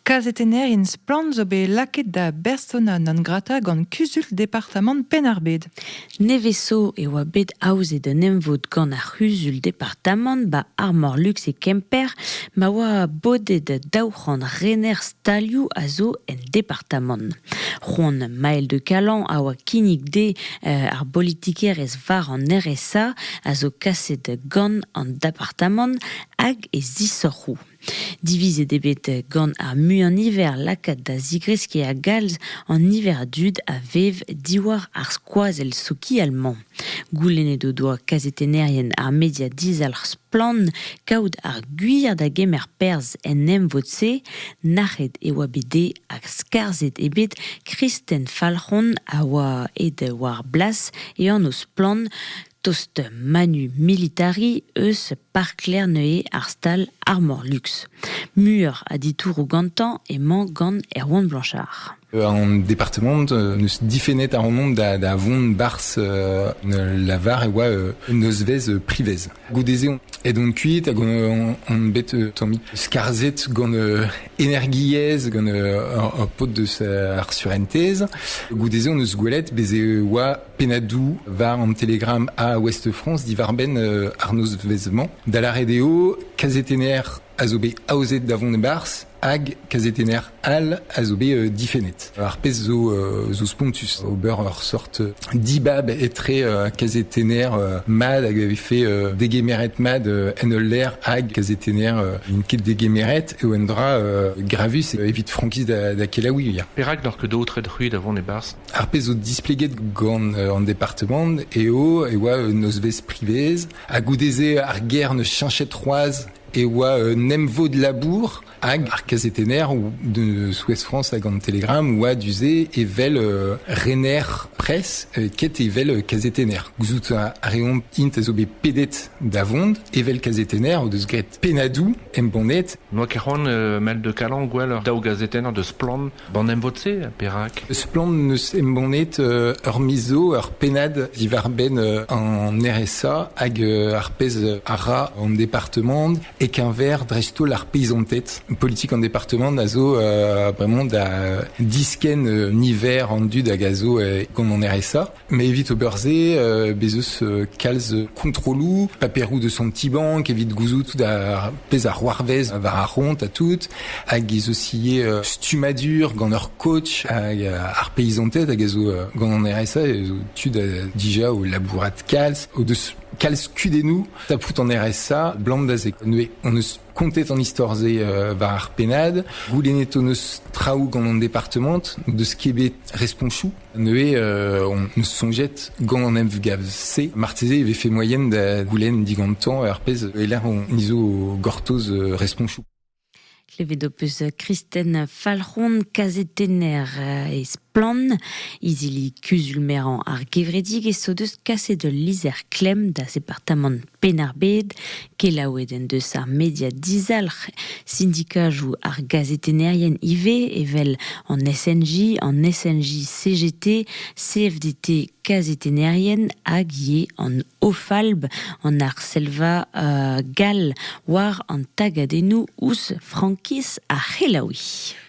Kazetennerien Splann! zo bet lakaet da bersona non grata gant kuzul departamant Penn-ar-Bed. Nevez-so e oa bet aozet un emvod gant ar c'huzul departamant 'ba Armor Lux e Kemper ma oa bodet daou c'hant rener stalioù a zo en departamant. C'hoant Maël de Calan a oa kinnig dezhe eh, ar bolitikerezh war an RSA a zo kaset gant an departamant hag e zisoc'hoù. Divizet eo bet gant ar muiañ-niver lakaat da zigreskiñ a-galz an niver a dud a vev diwar ar skoazell sokial-mañ. Goulennet o doa kazetennerien ar media dizalc'h Splann kaout ar gwir da gemer perzh en emvod-se. Nac'het e oa bet dezhe hag skarzhet eo bet Kristen Falc'hon a oa aet war blas e anv Splann Tost manu militari eus Park Lerneuil ar stal Armor Luxe. Muioc'h a ditouroù gantañ emañ gant Erwan Blanchard. En département ne se diffénait un nombre d'avon bars la var et oa une osvez privez. Goudezéon. Et donc cuit, on bet tombi scarzet gant energiez gant ur pot de sa surenthèse. Goudezéon eus gouelet, bezé oa pennadoù war an Telegram à Ouest-France diwar-benn euh, ar nozvezh-mañ, da lâret eo kazetenner a zo bet aozet da vont e-barzh hag kazetenner all a zo bet euh, difennet. Ar pezh zo, euh, zo spontus. Ober ur sorte dibab etre euh, kazetenner mad hag avait fait degemeret mad en ul lec'h hag kazetenner n'int ket degemeret eo un dra gravus evit frankiz da, da kelaouiñ. Perak n'oc'h ket aotret c'hwi da vont e-barzh Ar pezh zo displeget gant an departamant eo e oa un nozvezh privez ha goude-se ar gêr ne cheñchet c'hoazh e oa un emvod labour hag ar kazetenner de Souez France hag an Télégramme oa du-se evel rener pres ket evel kazetenner. Gouzout a reomp int a zo bet pedet da vont evel kazetenner o deus graet Pennadoù embannet N'oa ket c'hoant mel de Calan gwell ur daou gazetenn deus Splann ban emvod-se perak? Splann neus embannet ur miz zo ur pennad diwar-benn an RSA hag ar pezh a ra an departement e-keñver dreist-holl ar peizanted. Politik an departement a zo bremañ da diskenn niver an dud hag a zo gant an RSA Mais evit ober se, euh, bez eus euh, kalz kontrolloù, paperoù de son petit banque, evit gouzout tout ar pezh ar c'hoarvez war ar ront à tout, hag ez eus ivez euh, stummadur gant ur coach hag euh, ar paysantet hag ez zo euh, gant an RSA ez zo tud euh, déjà au labourat kalz, au deus kalz kudennoù tapout en RSA blam da se. On eus kontet an histor ze euh, war ar pennad. Goulennet on eus traoù gant an département de skebet responchou Neuze on soñjet gant an emgav-se marteze e vefe moaien da goulenn digantañ ar pezh e-lec'h on zo gortoz respoñsoù. Klevet ho peus Kristen Falc'hon, kazetenner e Splann, izili kuzul-merañ ar Gevredig, e so deus kaset ul lizher klemm da departamant Penn-ar-Bed, kelaouet en deus ar media dizalc'h sindikajoù ar gazetennerien ivez evel an SNJ, an SNJ CGT, CFDT kazetennerien hag ivez an OFALB, an Arselva uh, Gall, war an tagadennoù ouzh frankiz ar c'helaouiñ.